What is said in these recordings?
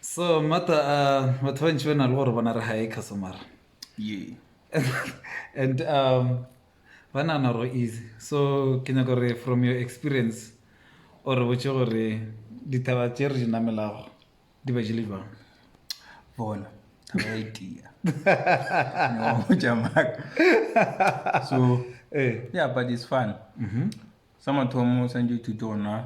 so mata uh, batho ba ntši ba na le gore bona re high customer and um ba nana gore easy so ke nyaka gore from your experience or re botse gore dithaba tse re di namelago di ba jele jwang bona thaba e tia so eh. yeah but it's fun mm -hmm. sa mathomo o santse thuto ona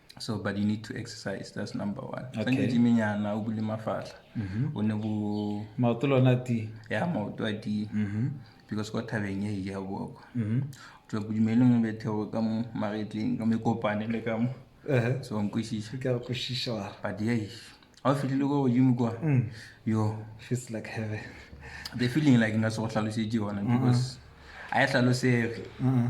so but you need to exercise that's number one okay. tsenye diminyana o bule mafahla mm -hmm. o ne bo maoto le ona ti ya maoto a ti mm -hmm. because kwa thabeng e ja boko mm -hmm. tswa bodumeleng o bethego ka mo magetleng ka mekopane le ka mo uh -huh. so nkwešiša ka kwešiša wa but yei ga o fitlhile kwa godimo kwa mm. yo feels like heaven the feeling like nka se go tlhalosetše yona because mm-hmm. a e hlalosege mm-hmm.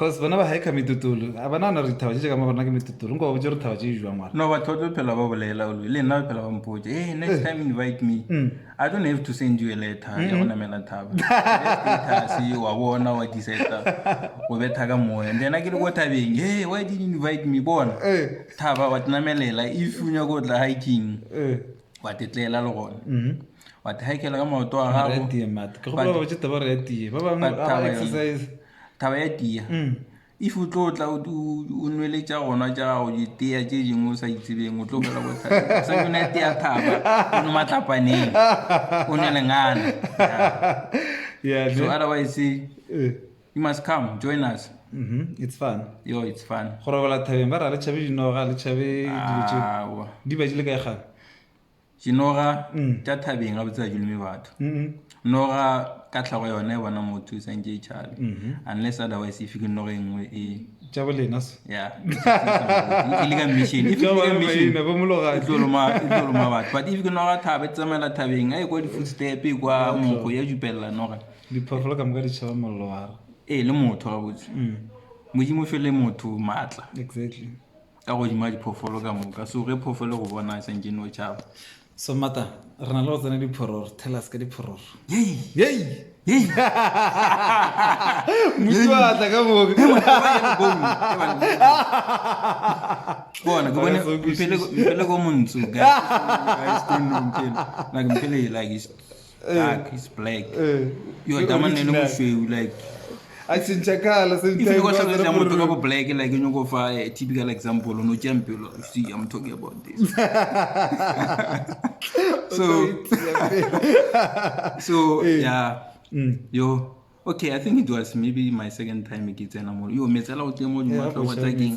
Cos bona ba haika mitutulu a ba na na re dithaba tše tše ka mo gona ke mitutulu nko ba botse gore thaba tše di jwang wala. No batho ba tlo phela ba bolela olwe le nna ba phela ba mpotse hey eh, next eh. time invite me mm. I don't have to send you a letter ya go namela thaba status wa bona wa diseta o betha ka moya and then a ke le ko thabeng hey why did you invite me bona eh. thaba wa tinamelela if o nyako tla hiking wa tetlela le gona mm-hmm. wa thahekela ka maoto a gago Thaba ya tia. If o tlo tla o nwele tša gona tša gago ditea tše dingwe o sa itsebeng o tlo fela go thaba. Sa yona tea thaba o no matlapaneng o ne lengana. Yeah. So otherwise eh. you must come join us. Mhm. It's fun. Yo it's fun. Go robala thabeng ba ra le chabe dinoga le chabe dilo tše. Di ba di le ka ikgana. Dinoga tša thabeng ga botse ga duleme batho. Noga ka tlhago yona e bona motho e santse e tšhabe. Unless otherwise e fike noga e nngwe e tša bolena se ya e le ka mission e fike ka mission ba mologadi tlo loma tlo loma batho but if ke noga thabe tsamela thabeng a e kwa di footstep e kwa moko ya jupella noga diphoofolo ka moka di tšhaba mollo wa e le motho ga botse modimo fele motho matla exactly Ka godimo ga diphoofolo ka moka. So ge phoofolo e go bona e santše no tšhaba. So mata re na le go tsena diphororo tell us ka diphororo. Yei. Yei. Yei. Mutsu wa tla ka moka. Ke bona ke bone mpele mpele go montsu guys. Guys don't know mpele. Like mpele like is Dark is black. Eh, Yo, ke taman ne le original. mošweu, like. a tšhentšha kala If you go hlalosetsa motho ka bo black, like, you go fa a typical example, no tšea mpelo, you see, I'm talking about this. So, so, Eh. yeah. Mm. Yo, okay, I think it was maybe my second time ke tsena mo. Yo, metsela o tle mo, di matla wa tsa keng.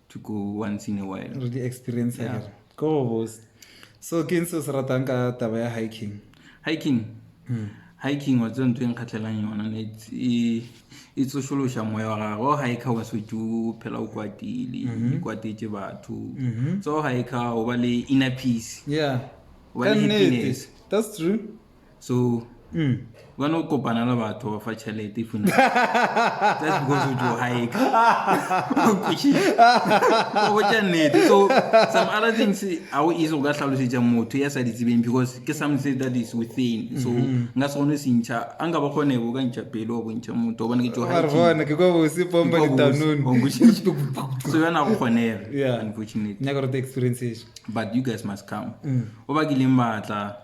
to go once in a while re di experience yeah. kere ko go bose so ke ntse o se ratang ka taba ya hiking hiking hmm. hiking wa tse ntho e nkgatlhelang yona ne e, e tsošološa moya wa gagwe o hike wa setse o phela o kwatile mhm. kwatetse batho mhm. so o hike o ba le inner peace yeah ka nnete that's true so mm. ba no kopana le batho ba fa tšhelete e funa just because o jo hike o botša nnete so some other things ga o ise go ka tlhalosetša motho ya sa di tsebeng because ke something that is within so mm-hmm. nka se kgone sentšha a nka ba kgone bo ka ntšha pele wa bontšha motho o bone ke jo so yona go kgonega unfortunately but you guys must come mm. o bakileng batla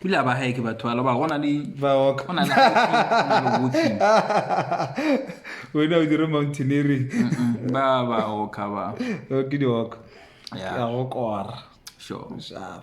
Pula ba hae ke batho ba loba gona le ba walk. Gona le walking. Wena o dire mountaineering. Ba ba walk ba. Ke di walk. Yeah. Ya go kora. Sure. Sure.